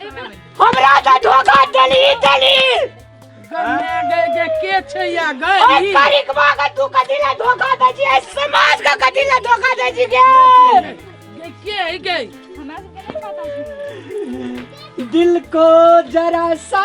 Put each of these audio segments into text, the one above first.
हमरा तऽ धोखा देली देली गन्ना गए जे के छै या गए ओइ ई। तारीखवा के तू कथी ला धोखा दै छी एहि समाज के कथी ला धोखा दै छी गे जे के है गए हमरा सबके नहि पता छै दिल को जरा सा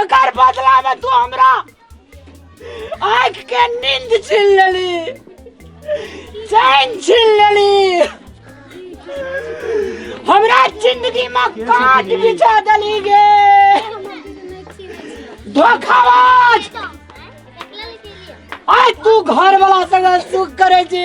एकर बदला में तू हमरा आँख के नींद छीन लेली चैन छीन लेली हमरा जिंदगी में काट बिछा देली गे धोखाबाज आय तू घर वाला संग सुख करे छी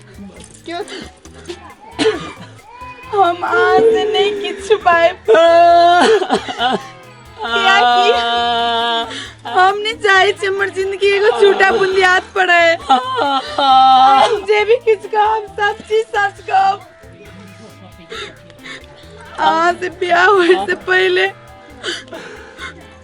हम आज नहि किछु पाएब कियाकि हम नहि चाहै छी हमर जिंदगी एगो छोटा बुनियाद पर है हम जे भी किछु कहब सब चीज सच कहब अहाँ से ब्याह होइसँ पहिले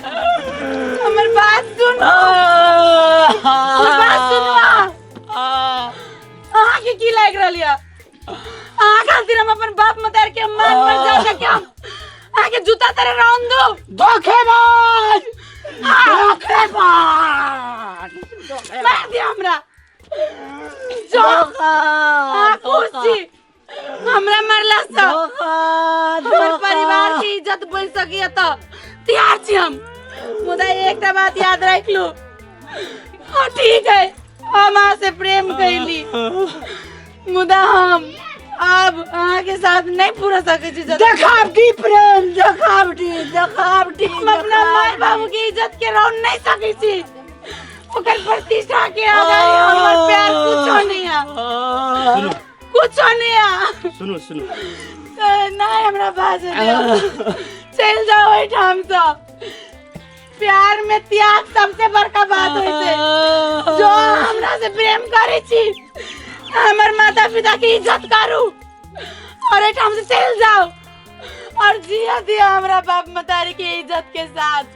हमर बात सुनो हमर बात सुनो अहाँ के की लाग रहल यऽ अहाँ खातिर हम अपन बाप मतार के मान पर जा के हम अहाँ के जूता तेरे रौन दो धोखेबाज धोखेबाज मार दिया हमरा जो अहाँ खुश छी हमरा मरला से हमर परिवार के इज्जत बन सकी है तो तैयार छी हम मुदा एकटा बात याद रख लो हाँ ठीक है हम अहाँ से प्रेम कैली मुदा हम अब अहाँ के साथ नहीं पूरा सके छी जतन। देखावटी प्रेम देखावटी देखावटी हम अपना माय बाबू के इज्जत के रौन नहीं सके छी ओकर प्रतिष्ठा के आधार हमर प्यार कुछो नहीं है सुनू कुछ नहीं आ सुनो सुनो ना हमरा पास चल जाओ ओहि ठाम से प्यार में त्याग सबसे बड़का बात होय छै जो हमरा से प्रेम करे छी हमर माता पिता के इज्जत करू और एठाम से चल जाओ और जिया दिया हमरा बाप मतारी के इज्जत के साथ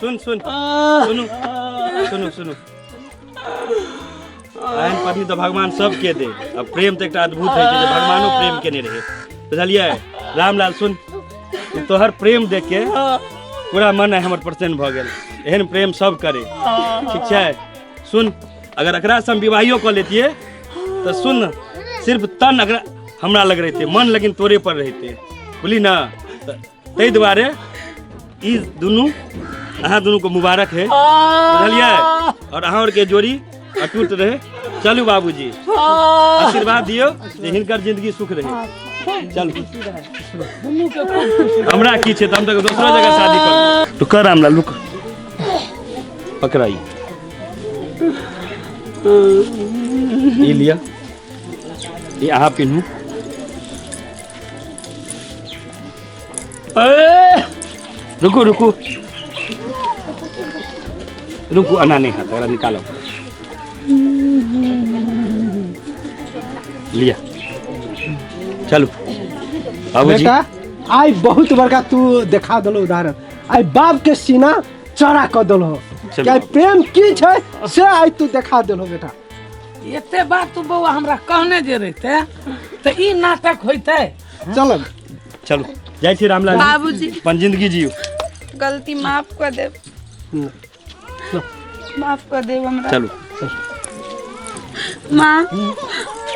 सुन सुन सुनू सुनू सुनू एहन पत्नी तऽ भगवान सबके दे आ प्रेम तऽ एकटा अद्भुत होइ छै जे भगवानो प्रेम केने रहै बुझलियै रामलाल सुन ई तोहर प्रेम देख के पूरा मन आइ हमर प्रसन्न भऽ गेल एहन प्रेम सब करे ठीक छै सुन अगर एकरा से हम विवाहियो कऽ लेतियै तऽ सुन न, सिर्फ तन अगर हमरा लग रहते मन लेकिन तोरे पर रहते बुझली ना तऽ ताहि दुआरे ई दुनू अहाँ दुनू को मुबारक है बुझलियै और अहाँ और के जोड़ी अटूट रहे चलू बाबूजी आशीर्वाद दियो जे हिनकर जिंदगी सुख रहे चलू हमरा की छै तऽ हम तऽ दोसरो जगह शादी करब तो कर हमरा लुक पकड़ाई ई लिया ई अहाँ पिन्हू ए रुकू रुकू रुकू अना नहीं हाथ वाला निकालो लिया चलो बाबू जी बेटा आइ बहुत बड़का तू देखा देलो उदाहरण आइ बाप के सीना चौड़ा कऽ देलो चलू। कि आइ प्रेम की छै से आइ तू देखा देलो बेटा एते बात तू बौआ हमरा कहने जे रहते तऽ ई नाटक होइते चल चलू जाइ छी रामलाल जी। बाबूजी अपन जिंदगी जियो गलती माफ कर दे माफ कर दे हमरा चलू माँ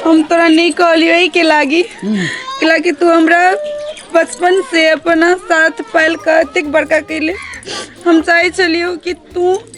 हम तोरा नहीं कहलियो के लागी के लागी तू हमरा बचपन से अपना साथ पाल के एतेक बड़का कैले हम चाहे छलियो कि तू